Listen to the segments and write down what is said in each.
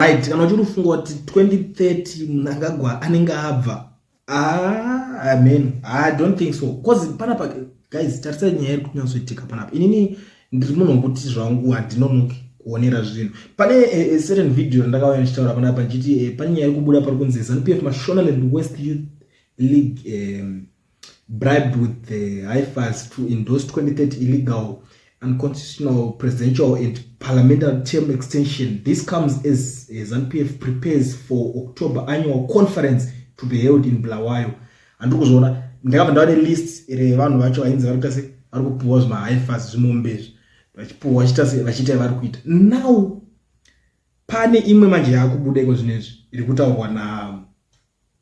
right kana uchiri kufunga kuti 2030 munhu angagwa anenge abva ah, amen i don't think so bcause panapa guys tarisai nyaya iri kunyatsoitika panapa inini ndiri munhu wekuti zvangu handinonoki kuonera zvinhu pane eh, eh, certain video randakauya ndichitaura panapa ndichiti eh, pane nyaya iri kubuda pari kunzi zanupf mashonaland west youth league um, bribed with the hifas to endorse 2030 illegal unconstitutional presidential and parliamentary term extension this comes as, as npf prepares for october annual conference to be held in blawayo handiri kuzviona ndakabva ndava nelist revanhu vacho vainzi vari kuita se vari kupuwa zvimahifas zvimombe izvi vachipuhwa vachiita se vachiita vari kuita now pane imwe manje yaakubuda iko zvino izvi iri kutaurwa na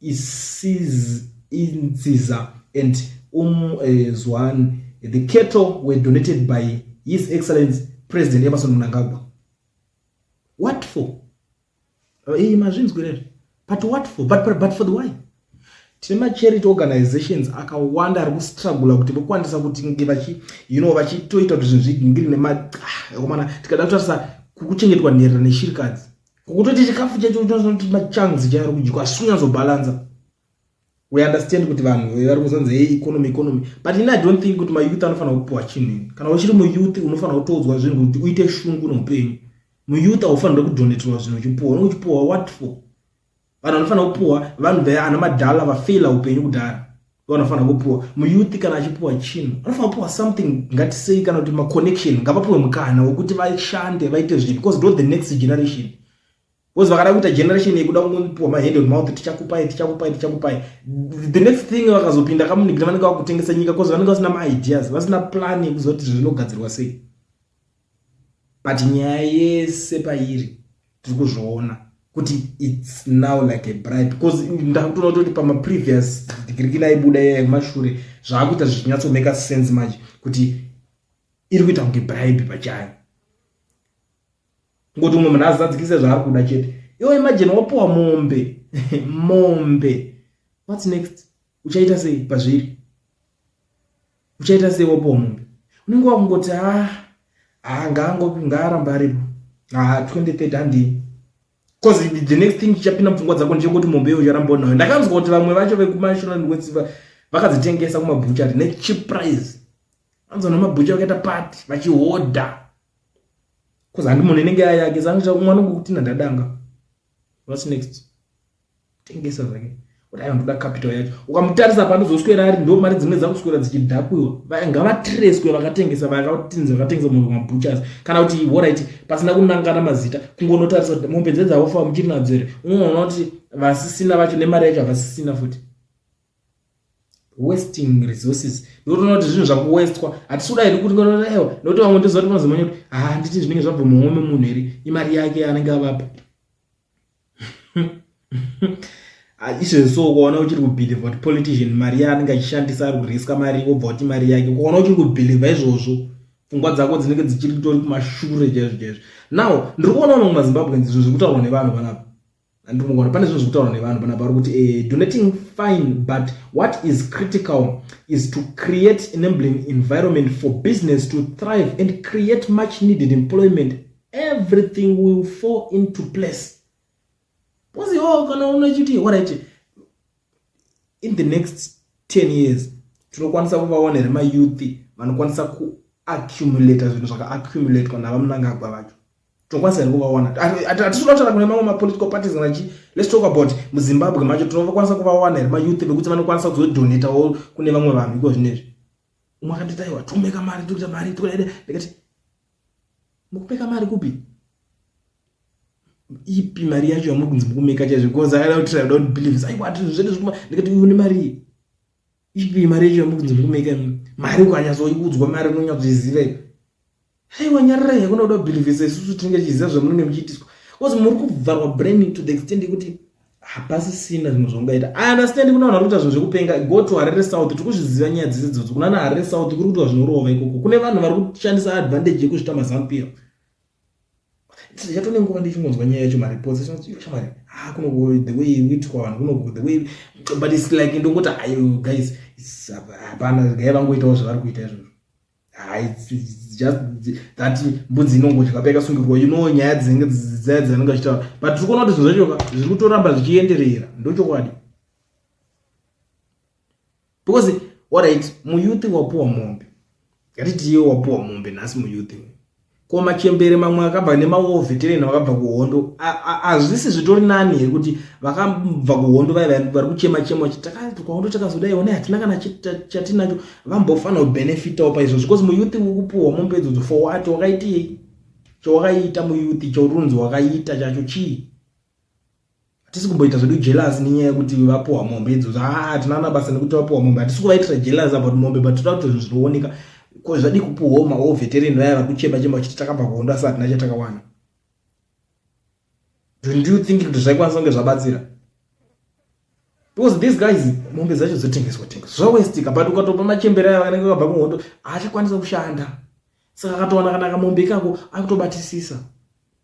isiz inziza and um eh, zwan the cattle were donated by his excellence president emerson mnangagwa what for iyi eh, mazvinzwirere but what for but, but, but for the why tine macharity organizations akawanda ari kustrugula kuti vokwanisa kuti nge vachi you know vachitoita kuti zvinhu zvigingiri nemaomana ah, tikada kutarisa kuchengetwa nherera neshirikadzi kutoti chikafu chacho unosanoti machanzi chaari kudyiwa asi kunyazobhalanza we understand kuti vanhu vari kuzanza ye economy economy but ini i don't think kuti mayouth anofanira kupiwa chinhu ini kana uchiri muyouth unofanira kutoodzwa zvinhu kuti uite shungu noupenyu muyouth haufanira kudoneterwa zvinhu uchipuwa unochipuwa what for vanhu vanofanira kupuwa vanhu the ana madhala vafeila upenyu kudhara vanofanira kupuwa muyuthi kana achipuwa chinhu anofanira kupuwa something ngatisei kana kuti maconnection ngavapuwe mukana wekuti vashande vaite zvinhu because ndo the next generation because vakada kuita generation yekuda kungopiwa mahand on mouth tichakupai tichakupai tichakupai the next thing vakazopinda kamunigina vanenge vakutengesa nyika because vanenge vasina maideas vasina plan yekuzoti zvinogadzirwa sei but nyaya yese pairi tiri kuzviona kuti its now like a bribe because ndakutoona kutoti pamaprevious digirikina aibuda iya yekumashure zvaakuita zvichinyatsomeka sense manje kuti iri kuita kunge bribe pachayo ngoti umwe munhu azadzikise zvaari kuda chete iwo imajini wapiwa mombe mombe whats next uchaita sei pazviri uchaita sei wapuwa mombe unenge wakungoti a ah, ah, ngaangopi ngaaramba aripo a ah, 2030 handii bcause the next thing chichapinda mupfungwa dzako ndechekuti mombe iyo ucharamba unayo ndakanzwa kuti vamwe vacho vekumasholand wets vakadzitengesa kumabhuchari nechip price anzwa namabhucha vakaita pati vachihodha bcause handimoni inenge yayake sangu mwana ngokuti nandadanga whats next tengesa zvake kuti ayo ndoda capital yacho ukamutarisa panozoswera ari ndo mari dzimwe dzakuswera dzichidhakuiwa ngavatireswe vakatengesa vakatinzi vakatengesa mombe mabutchers kana kuti horit pasina kunangana mazita kungonotarisa kuti mombe dzedzaofa muchiri nadzo here unoona kuti vasisina vacho nemari yacho havasisina futi wasting resources ndotoona kuti zvinhu zvakuwestwa hatisi kuda here kuti ngotoewa nokuti vamwe ndozvati vanozomanya kuti handiti ah, zvinenge zvabva mumwe memunhu here imari yake anenge avapa izvezvi so ukaona uchiri kubhilivha kuti politician mari yaanenge achishandisa ari kuriska mari wobva kuti mari yake ukaona uchiri kubhilivha izvozvo pfungwa dzako dzinenge dzichiri kutori kumashure chaizvo chaizvo now ndiri kuona vamwe mazimbabwe zvinhu zviri kutaurwa nevanhu panapa handiri kuona pane zvinhu zviri kutaurwa nevanhu panapa vari kuti eh, donating fine but what is critical is to create enabling environment for business to thrive and create much needed employment everything will fall into place because iwo kana unechiti orit in the next 10 years tinokwanisa kuvaona here mayouth vanokwanisa kuaccumulata zvinhu zvakaaccumulatwa navamnangagwa vacho tinokwanisa here kuvaona hatisi kutaura kune mamwe mapolitical parties kana chii let's talk about muzimbabwe macho tinokwanisa kuvawana here mayouth vekuti vanokwanisa kuzodonatawo kune vamwe vanhu iko zvinezvi umwe akanditaiwa tomeka mari tokuita mari tokudaida ndikati mukupeka mari kupi ipi mari yacho yamuri kunzi mukumeka chaizvo because i don't, I don't believe this aiwa zvinhu zvedu zvekuma ndikati une mari ipi mari yacho yamuri kunzi mukumeka mari ukanyatsoiudzwa mari unonyatsoiziva ipi aiwa nyarira yakuna kuda kubhilivhisa isusu tinenge tichiziva zvamunenge muchiitiswa because muri kubvarwa brain to the extent yekuti hapasisina zvimwe zvaungaita i understand kuna vanhu vari kuita zvinhu zvekupenga go to harere south tiri kuzviziva nyaya dzese dzodzo kunana harere south kuri kuitwa zvinorova ikoko kune vanhu vari kushandisa advantage yekuzvita mazampiro ndichatone nguva ndichingonzwa nyaya yacho mareports shamari ha ah, kuno the way witwa vanhu kuno the way but its like ndongoti ayo guys hapana gai vangoitawo zvavari kuita izvozvo that mbudzi inongodya paikasungirwa you know nyaya dzinenge dzaya dzaanenge achitaura but tiri kuona kuti zvinhu zvacho zviri kutoramba zvichienderera ndochokwadi because orit muyouth wapuwa mombe ngatiti iye wapuwa mombe nhasi muyouth ko machembere mamwe akabva nemawo veteran vakabva kuhondo hazvisi zvitori nani here kuti vakabva kuhondo vai vari kuchema chema kuti takahondo takazodai one hatina kana chatinacho vambofanira kubenefitawo paizvozvo because muyuth ukupuhwa mombe idzodzo for wat wakaitiyei chawakaita muyuth chaurunzi wakaita chacho chii hatisi kumboita zvedu jealous nenyaya yekuti vapuhwa mombe idzodzo haa ah, hatina ana basa nekuti vapuhwa mombe hatisi kuvaitira jealous about mombe but toda kuti zvinhu zvinooneka ko zvadii kupuhwawo mawo veterini vaya vakuchema chema vachiti takabva kuhondo asi hatina chatakawana don't you think kuti zvaikwanisa kunge zvabatsira because these guys mombe dzacho dzotengeswa tengeswa zvawestika but ukatopa machembere aya vakanenge vakabva kuhondo haachakwanisa kushanda saka akatowana kana kamombe ikako akutobatisisa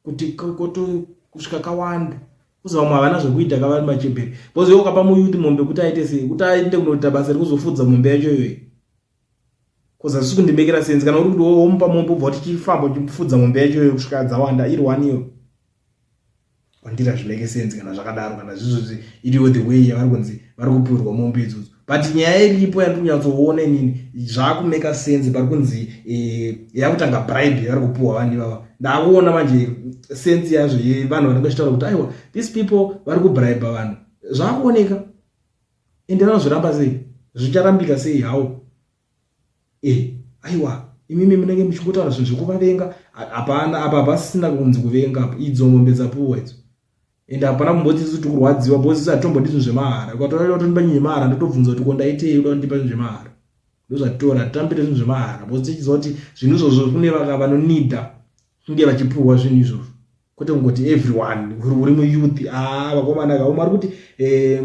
kuti koto kusvika kawanda kuzi vamwe havana zvekuita kavari machembere bcause iwe ukapa muyuti mombe kuti aite sei kuti aende kunoita basa rekuzofudza mombe yacho iyoyi bcause hazvisi kundimekera senzi kana uri kuti womupa mombe ubva kuti chifamba uchifudza mombe yacho iyoyo kusvika dzawanda iri one iyo kwandiri hazvimeke senzi kana zvakadaro kana zvizvozvi iriwo the way yavari kunzi vari kupurwa mombe idzodzo but nyaya iripo yandiri kunyatsoona inini zvaakumeka sense pari kunzi eh, yakutanga bribe yavari kupuhwa vanhu ivava ndakuona manje sense yazvo yevanhu vanenge vachitaura kuti aiwa these people vari kubribe vanhu zvakuoneka ende vanozviramba sei zvicharambika sei hawo eh aiwa imimi munenge muchingotaura zvinhu zvekuvavenga hapana apa hapasina kunzi kuvenga apa idzo mombe dzapuwa idzo ende hapana kumboti isu tikurwadziwa bcause isu hatitombondi zvinhu zvemahara ukatoraira kuti ndipa nyinhu yemahara ndotobvunza kuti ko ndaitei uda kundipa zvinhu zvemahara ndozvatitora hatitambire zvinhu zvemahara bcause tichiziva kuti zvinhu izvozvo kune vaka vanonida kunge vachipuhwa zvinhu izvozvo kwete kungoti everyone uri muyouth a ah, vakomana kaumari kuti eh,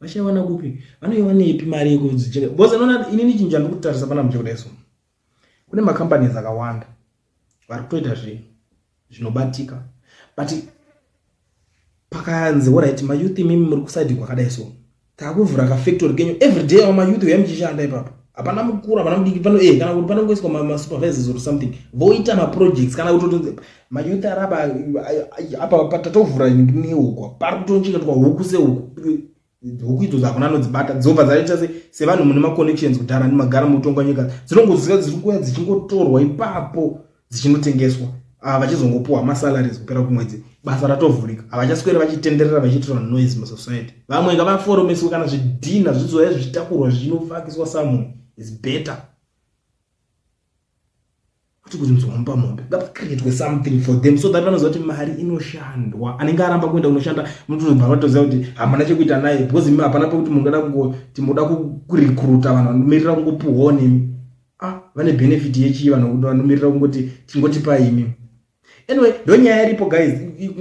vachaiwana kupi vanoiwanepi mari yekudzicheka bcause anoona inini chinhu chandiri kutarisa pana muche kudai so kune macompanies akawanda vari kutoita zvinhu zvinobatika but pakayanzi orit mayouth imimi muri kusaidi kwakadai so takuvhura kafactory kenyu everyday awo mayouth uya muchishanda ipapo hapana mukuru hapana mudiki pano e kana kuti panongoiswa masupervisors or something voita maprojects kana kuti mayouth araba apa patatovhura neuko pari kutocheketwa huku sehuku huku idzo dzakona anodzibata dzobva dzaita sevanhu mune maconnections kudhara nemagara mutongwa nyika dzinongozika dziri kuya dzichingotorwa ipapo dzichinotengeswa ah, vachizongopuwa masalaries kupera kumwedzi basa ratovhurika havachaswere vachitenderera vachiitirwa noise musociety vamwe ngavaforomeswe kana zvidhina zvizoya zvichitakurwa zvinofakiswa someone is better kuti kunzwa mumba mombe ngapacreatwe something for them so that vanoziva kuti mari inoshandwa anenge aramba kuenda kunoshanda munotonobva vatoziva kuti hamana chekuita naye because imi hapana pekuti munoda kungoti munoda kurekruta vanhu vanomirira kungopuhwa nemi ah vane benefit yechii vanhu vanomirira kungoti tingotipa imi anyway ndonyaya iripo guys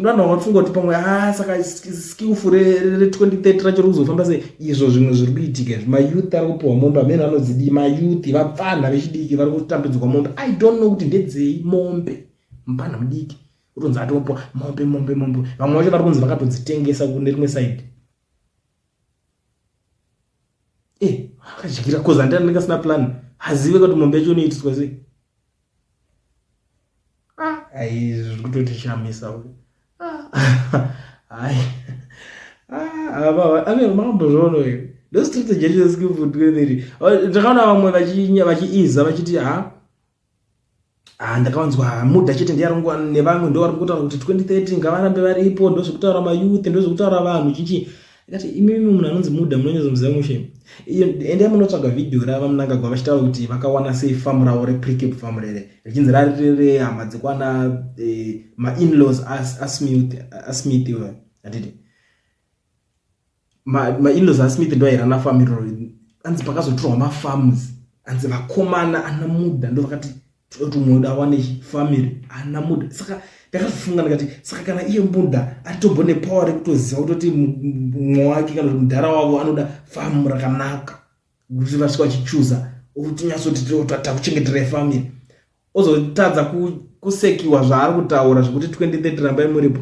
vanhu vanofunga kuti pamwe a ah, saka skillful re2030 racho rikuzofamba sei izvo zvimwe zviri kuitika izvi mayouth ari kupiwa mombe amene anodzidii mayouth vapfanha vechidiki vari kutambidzwa mombe i don't know kuti ndedzei mombe mupfanha mudiki utonzi atopiwa mombe mombe mombe vamwe vacho vari kunzi vakatodzitengesa kune rimwe side eh akachigira cause andira ndinga sina plan hazive kuti mombe yacho inoitiswa sei ah ai zviri kutoti shamisa uyu ai ah baba ah, ave mambo zvono uyu ndo strategy yacho yesikufuti kweneri ndakaona vamwe vachinya vachiiza vachiti ha ah, Ah, ndakavanzwa hamuda chete ndiyarongwa nevamwe ndo vari kutaura kuti 2030 ngavarambe varipo ndo zvekutaura mayouth ndo zvekutaura vanhu chinchi ikati imimi munhu anonzi muda munonyazomuziva mushe endai munotsvaga vhidhiyo rava munangagwa vachitaura kuti vakawana sei famu ravo repricap famu rere richinzi rari rere hama dzekwana eh, mainlaws asmith iwe atiti mainlos asmith ndo aira na farm iroro anzi pakazotorwa mafarms anzi vakomana ana muda ndo vakati tomuda wane family ana muda saka ndakazofunga ndikati saka kana iye muda atobo nepower rekutoziva kutoti mumwe wake kana kuti mudhara wavo anoda famu rakanaka kuti vasvika vachichuza otinyatsoti takuchengetera family ozotadza kusekiwa zvaari kutaura zvekuti 2030 rambai muripo